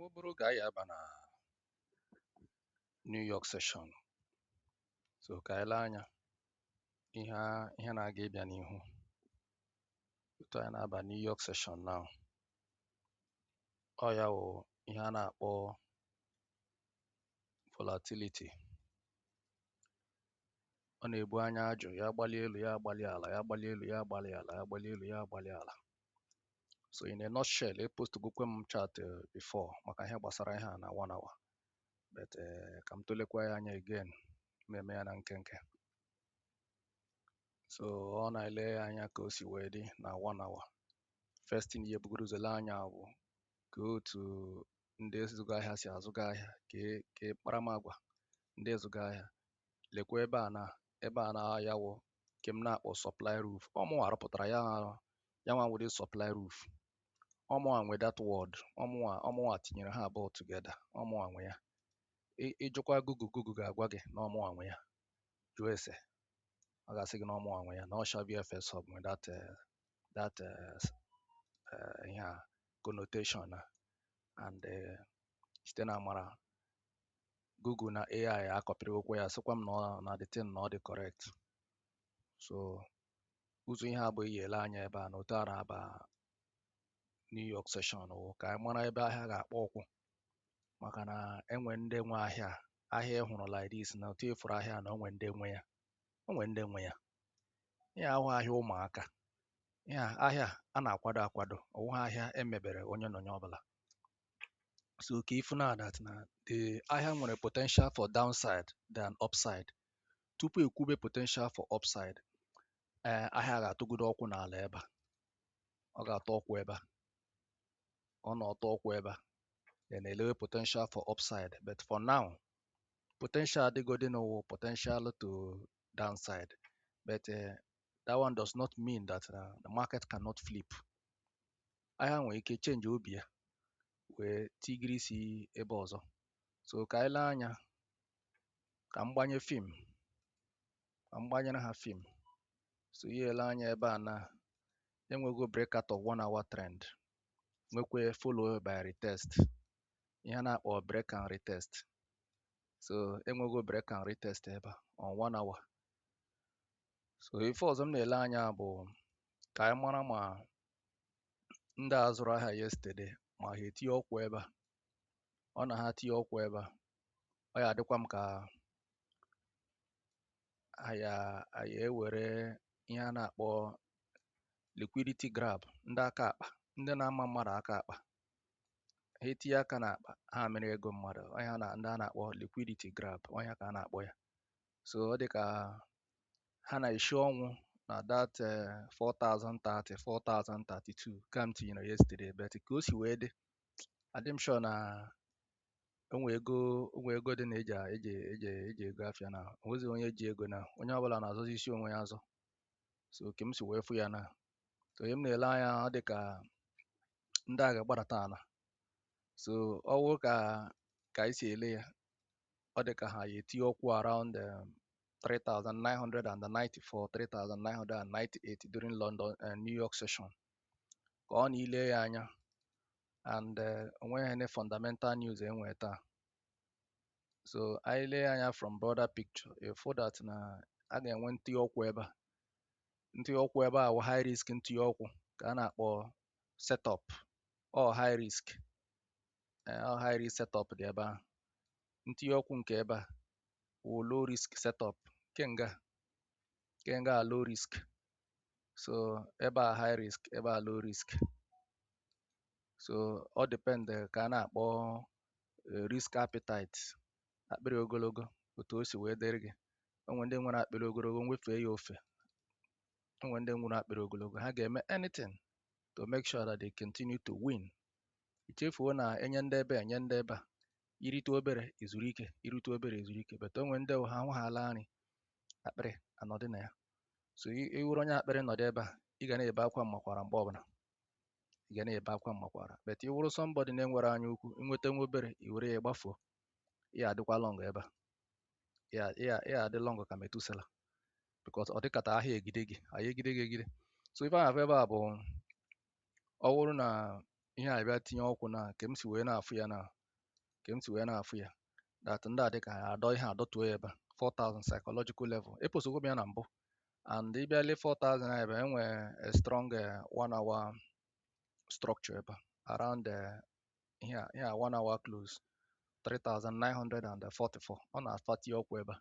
Ọ bụrụ ka anyị aba na New York session so ka anyị lee anya ihe a- ihe na-aga ịbịa n'ihu otu anyị na-aba New York session na ọ ya wụ ihe a na-akpọ volatility ọ na-ebu anya ajụ ya gbalie elu ya agbalie ala ya gbalie elu ya agbalie ala ya gbalie elu ya agbalie ala so in a nutshell e post gokwe m chart eh, before maka ihe gbasara ihe a na one hour but eh, ka m tụlekwa ya anya again m eme ya na nkenke so ọ na-ele ya anya ka o si wee dị na one hour first thing ihe bugoro ụzọ lee anya bụ ka otu ndị zụga ahịa si azụga ahịa ka e- ka e- kparamagwa ndị zụga ahịa lekwa ebe a na ebe a na ya wụ nke m na-akpọ supply roof ọ mụnwa rụpụtara ya ya nwa wụ the supply roof ọ mụnwa nwe that word ọ mụnwa ọ mụnwa tinyere ha abụọ together ọ mụnwa nwe ya Ị- ị jụkwa Google Google ga-agwa gị na ọ mụnwa nwe ya jụọ ese ọ ga-asị gị na ọ mụnwa nwe ya na ọ Shavyfxhub nwe that eh, that eh, s- eh, ihe a connotation a and eh, site na amara Google na AI akọpịrịwokwa ya sịkwa m na ọ na the thing na ọ dị correct so ụzọ ihe abụọ i ya-ele anya ebe a na otu a na-aba New York session wụ ka anyị mara ebe ahịa ga-akpọ ụkwụ maka na e nwe ndị nwe ahịa ahịa ị hụrụ like this na otu ị fụrụ ahịa na o nwe ndị nwe ya o nwe ndị nwe ya ihe a awụghị ahịa ụmụaka ihe a- ahịa a na-akwado akwado ọ wụghị ahịa e mebere onye na onye ọ bụla So ka ị fụ na that na the ahịa nwere potential for downside than upside. Tupu e kwube potential for upside, ee eh, ahịa ga-atọgodo ụkwụ n'ala ebe a. Ọ ga-atọ ụkwụ ebe a. Ọ na ọ tọọ ụkwụ ebe a. Then e lewe potential for upside. But for now, potential dịgodi now wụ potential to downside. But uh, that one does not mean that uh, the market cannot flip ahịa nwere ike change obi ya wee tigiri isi ebe ọzọ so ka anyị lee anya ka m gbanye film ka m gbanyere ha film so ihe ele anya ebe a na e nwego breakout of one hour trend nwekwa follow by retest ihe a na-akpọ break and retest so e nwego break and retest ebe a on one hour so ife ọzọ m na-ele anya bụ ka anyị mara ma ndị a zụrụ ahịa yesterday ma ha etinye ọkwụ ebe a ọ na ha tinye ọkwụ ebe a ọ ya adịkwa m ka a ya a ya ewere ihe a na-akpọ liquidity grab ndị aka akpa ndị na-ama mmadụ aka akpa ha etinye aka n'akpa ha mere ego mmadụ ọnya na ndị a na-akpọ liquidity grab ọnya ka a na-akpọ ya so ọ dị ka ha na-eshi ọnwụ na that eh, 4030 4032 ka m tinyere yesterday but ka o si wee dị adị m sure na onwe ego onwe ego dị na eji eji eji eji ego afịa na o nwezi onye ji ego na onye ọbụla na-azọzi isi onwe ya azọ so ka m si wee fụ ya na so ihe m na-ele anya ọ dị ka ndị a ga-agbadata ala so ọ wụ ka ka anyị si ele ya ọ dị ka ha ya etinye ọkwụ around um, 3994 3998 during London uh, New York session ka ọ na ile ya anya and uh, onweghị any fundamental news e nwe taa so anyị lee anya from broader picture ị fụ that na a ga-enwe ntinye ọkwụ ebe a ntinye ọkwụ ebe a wụ high risk ntinye ọkwụ ka a na-akpọ setup ọ high risk eh, ọ high risk setup dị ebe a ntinye ọkwụ nke ebe a wụ low risk setup nke nga nke nga a low risk so ebe a high risk ebe a low risk so ọ depend eh, ka a na-akpọ eh, risk appetite akpịrị ogologo otu o si wee dịrị gị o nwe ndị nwere akpịrị ogologo nwefee ya ofe o nwe ndị nwere akpịrị ogologo ha ga-eme anything to make sure that they continue to win i chefuo na enye ndị ebe enye ndị ebe a i rite obere i zuru ike i rite obere i zuru ike but o nwe ndị ha ahụ ha ala nri akpịrị anọdị na ya so i wuru onye akpịrị nọdụ ebe a ị ga na-ebe akwa m makwara mgbe ọbụla ị ga na-ebe akwa m makwara but i wuru somebody na-enwere anya ukwu i nweta nwa obere i were ya gbafuo ya adịkwa long ebe a ya ya ya adị long ka Methuselah because ọ dịkata ahịa egide gị ahịa egide gị egide so ife ahụ ebe a bụ ọ wụrụ na ihe a bịa tinye ọkwụ na ka m si wee na-afụ ya na ka m si wee na-afụ ya that ndị a dị ka a dọ ihe a dọtuo ya ebe a 4000 psychological level eposogo m ya na mbụ and ị bịa lee 4000 a ebe a enwee a strong eh, one hour structure ebe a around eh, ihe a ihe a one hour close 3944 ọ na fa tinye ọkwụ ebe a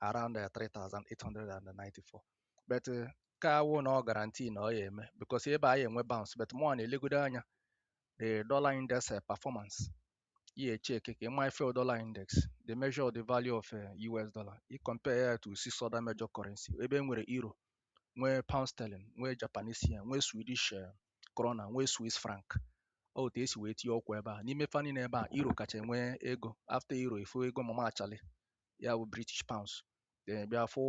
around uh, 3894 but uh, ka awụ na ọ guarantee na ọ ya eme because ebe a ya enwe bounce but mụ na-elegodo anya the dollar index uh, performance ihe check ka ịma ife dollar index the measure of the value of uh, US dollar i compare ya to six other major currency ebe e nwere euro nwee pound sterling nwee Japanese yen nwee Swedish uh, krona nwee Swiss franc otu esi wee tinye ọkwa ebe a n'ime fa niile ebe a euro kacha enwe ego after euro ịfụ ego mama Charlie ya bụ british pounds then bịa fụ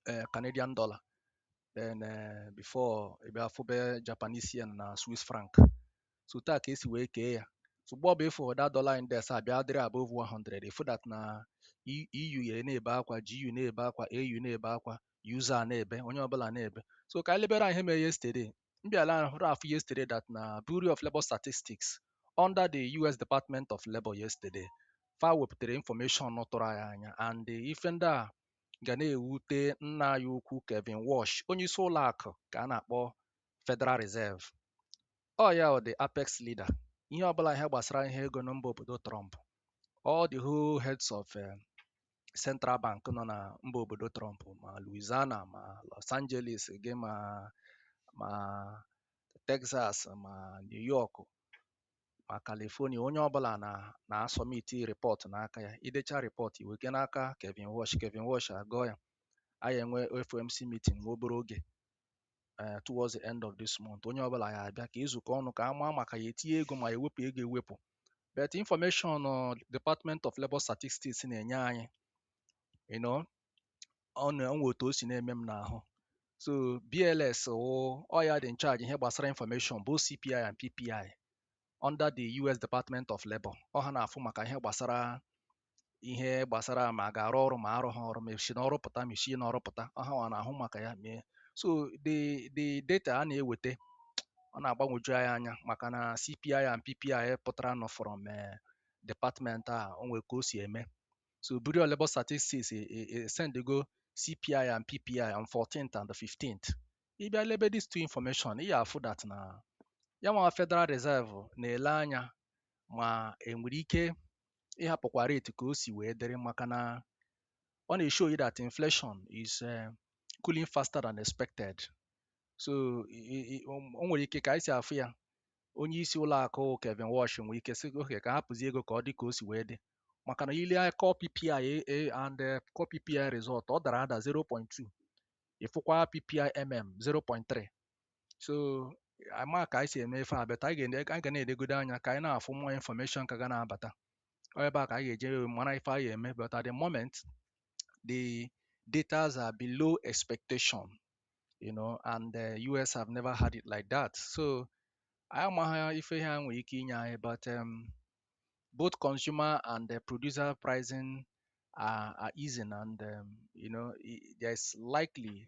eh, canadian dollar then eh, before ị bịa fụbe japanese yen na swiss franc so otu a ka esi wee kee ya so mgbe ọbụ ịfụ that dollar index a bịa dịrị above 100 ịfụ that na E- EU ya na-ebe akwa GU na-ebe akwa AU na-ebe akwa user na-ebe onye ọbụla na-ebe so ka anyị lebere ihe mere yesterday mbịala hụrụ afụ yesterday that na Bureau of Labour Statistics under the US Department of Labour yesterday fa wepụtara information tụrụ anyị anya and ife ndị a ga na-ewute nna anyị ukwu Kevin Warsh onye isi ụlọ akụ ka a na-akpọ Federal Reserve ọ ya wụ the apex leader ihe ọbụla ihe gbasara ihe ego na mba obodo Trump all the whole heads of eh, Central Bank nọ na mba obodo Trump ma Louisiana ma Los Angeles gị ma ma Texas ma New York ma California onye ọbụla na na-asubmit report n'aka ya idecha report iwega n'aka Kevin Warsh Kevin Warsh agụọ ya anyị enwe FOMC meeting nwa obere oge ee eh, towards the end of this month onye ọbụla ya abịa ka ezukọ ọnụ ka a maa ma a ka ya etinye ego ma ewepụ ego ewepụ but information uh, Department of Labour Statistics na-enye anyị you know ọ na-enwe otu o si na-eme m n'ahụ so BLS wụ ọ ya dị in charge ihe gbasara information both CPI and PPI under the US Department of Labour ọ ha na-afụ maka ihe gbasara ihe gbasara ma a ga-arụ ọrụ ma arụghị ọrụ ma esi n'ọrụ pụta ma esi n'ọrụ pụta ọ ha nwa na-ahụ maka ya mee so the the data a na-eweta ọ na-agbanwoju anyị anya maka na CPI and PPI pụtaranụ from eh, department a o nwere ka o si eme so Bureau of Labour Statistics e- e- e- sendego CPI and PPI on 14th and the 15th ị bịa lebe these two information ị ya afụ that na ya nwa Federal Reserve na-ele anya ma enwere ike ịhapụkwa rate ka o si wee dịrị maka na ọ na-eshow you that inflation is eh, cooling faster than expected so i- i- i- o o nwere ike ka anyị si afụ ya onye isi ụlọ akụ Kevin Warsh nwere ike sị okay ka hapụzie ego ka ọ dị ka o si wee dị maka na ile core PPI eh, eh, and eh, core PPI result ọ dara ada 0.2 ịfụkwa PPI mm 0.3 so ama ka anyị si eme ife a but anyị ga na-edegodo anya ka anyị na-afụ more information ka ga na-abata ebe a ka anyị ga-eji mara ife anyị eme but at the moment the datas are below expectation you know and the US have never had it like that so anyị amaghị ife ha nwere ike inye anyị but um, both consumer and the producer pricing are, are easing and um, you know there's likely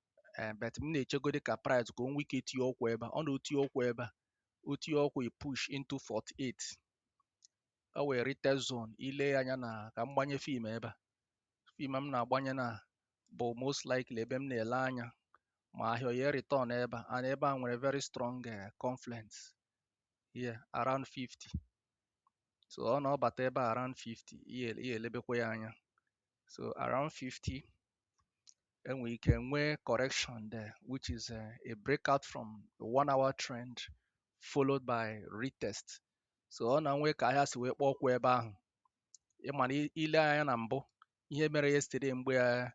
ee but m na-echegodi ka price ka o nwee ike tinye ụkwụ ebe a ọ na o tinye ụkwụ ebe a o tinye ụkwụ i push into 48 o wee retest zone ile ya anya na ka m gbanye fib ebe a fib m na-agbanye na bụ most likely ebe m na-ele anya ma ahịa ọ ya return ebe a and ebe a nwere very strong eh, confluence here around 50 so ọ na ọ bata ebe a around 50 ihe ihe elebekwa ya anya so around 50 enwere ike nwee correction there which is a, eh, a breakout from the one hour trend followed by retest so ọ na nwee ka ahịa si wee kpọọ ụkwụ ebe ahụ ị ma na ile anya na mbụ ihe mere yesterday mgbe eh,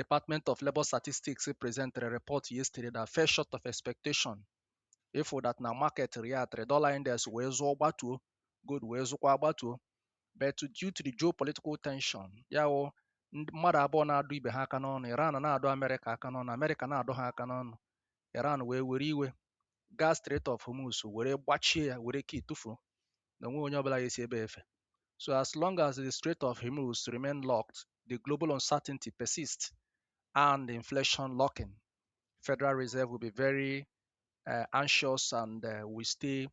Department of Labor Statistics presented a report yesterday that fell short of expectation ị fụ that na market reacted dollar index wee zụọ gbatuo gold wee zụkwa gbatuo but due to the geopolitical tension ya wụ ndị- mmadụ abụọ na-adụ ibe ha aka n'ọnụ Iran na-adụ Amerịka aka n'ọnụ Amerịka na-adụ ha aka n'ọnụ Iran wee were iwe gaa Strait of Hormuz were gbachie ya were key tụfuo na o nwee onye ọbụla ga-esi ebe efe so as long as the Strait of Hormuz remain locked the global uncertainty persists and the inflation lurking Federal Reserve will be very uh, anxious and uh, will stay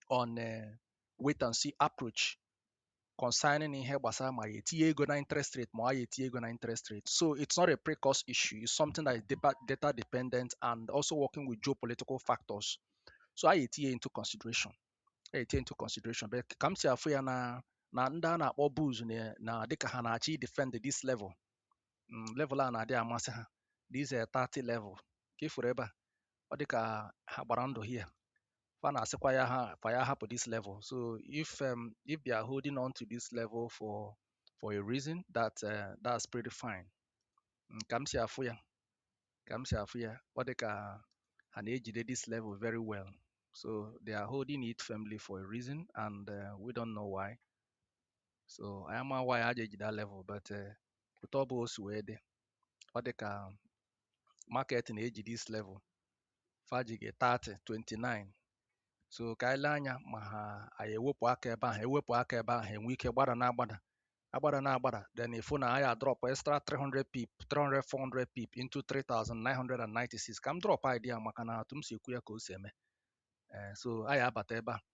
on a wait and see approach concerning ihe gbasara ma ya etinye ego na interest rate ma ọ ya etinye ego na interest rate so it's not a pre-cost issue it's something that is data, data dependent and also working with geopolitical factors so a ya etinye into consideration a ya etinye into consideration but ka m si afụ ya na na ndị a na-akpọ bulls na na dịka ha na-achọ defend this level mm, level a na-adị amasị ha this uh, 30 level ka ị fụrụ ebe a ọ dị ka ha gbara ndụ here fa na-asịkwa ya ha fa ya hapụ this level so if um, if they are holding on to this level for for a reason that uh, that's pretty fine mm, ka m si afụ ya ka m si afụ ya ọ dị ka ha na-ejide this level very well so they are holding it firmly for a reason and uh, we don't know why so anyị ama why ha ji ejide that level but uh, otu ọ bụ o si wee dị ọ dị ka market na-eji this level faji gị 30 29 so ka anyị lee anya ma ha ya ewepụ aka ebe ahụ ewepụ aka ebe ahụ enwe ike gbada na agbada agbada na agbada then ị fụ na ahịa drop extra 300 pip 300 400 pip into 3996 ka m drop idea maka na etu m si ekwu ya ka o si eme ee eh, so ahịa abata ebe a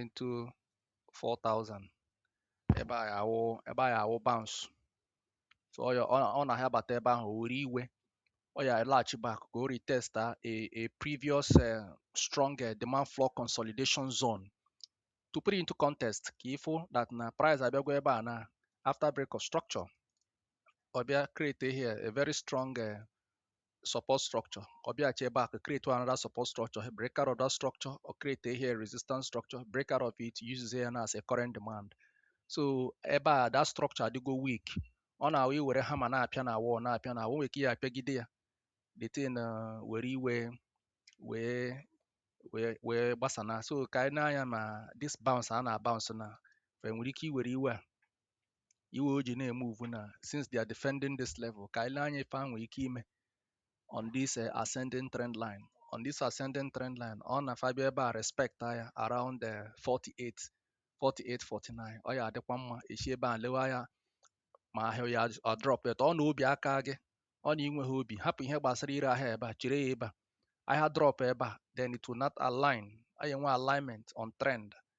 into 4000 ebe a awụ ebe a awụ bounce so ọ ya ọ na ha bata ebe ahụ were iwe ọ ya laghachi back ka o retest a a previous uh, strong uh, demand floor consolidation zone to put it into context ka ị fụ that na price abịago ebe a na after break of structure ọ bịa create here a very strong uh, support structure ka ọ bịaghachi ebe a ka create another support structure break out of that structure ọ create here resistance structure break out of it use ya as a current demand so ebe a that structure adịgo weak ọ na-awụ i were hammer na-apịa na wall na-apịa na wall nwere ike ya apịagide ya the thing uh, were iwe wee wee wee gbasana so ka anyị nee anya ma this bounce a na-bounce na fa nwere ike iwere iwe a iwe o ji na-emove na since they are defending this level ka anyị lee anya ife a nwere ike ime on this uh, ascending trend line on this ascending trend line ọ na fa bịa ebe a respect ya around uh, 48 48 49 ọ ya adịkwa mma e si ebe a lewe ya ma ahịa ya ọ drop eto ọ na obi akaa gị ọ na i nweghị obi hapụ ihe gbasara ire ahịa ebe a chere ya ebe a ahịa drop ebe a then it will not align anyị enwe alignment on trend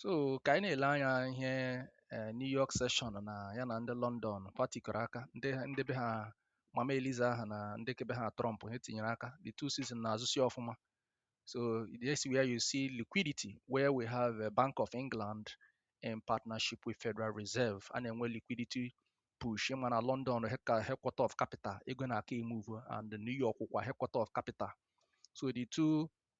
so ka anyị na-ele anya ihe eh, New York session na ya na ndị London patikọrọ aka ndị ndị be ha Mama Eliza ha na ndị ke be ha Trump ha tinyere aka the two season na-azụsi ọfụma so this is where you see liquidity where we have a Bank of England in partnership with Federal Reserve a na-enwe liquidity push ị ma na London ka headquarter of capital ego na-aka emove and New York kwa headquarter of capital so the two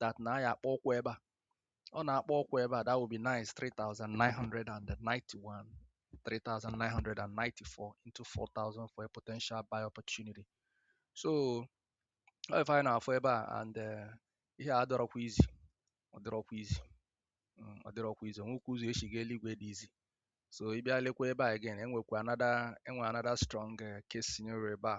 that na ahịa akpọ ụkwụ ebe a ọ na-akpọ ụkwụ ebe a that will be nice 3991 3994 into 4000 for a potential buy opportunity so ọ ife anyị na-afụ ebe a and eh, ihe a adịrọkwa easy ọ dịrọkwa easy mm, ọ dịrọkwa easy enwekwa ụzọ e si ga eluigwe dị easy so ị bịa lekwa ebe a again enwekwa another enwe another strong eh, case scenario ebe a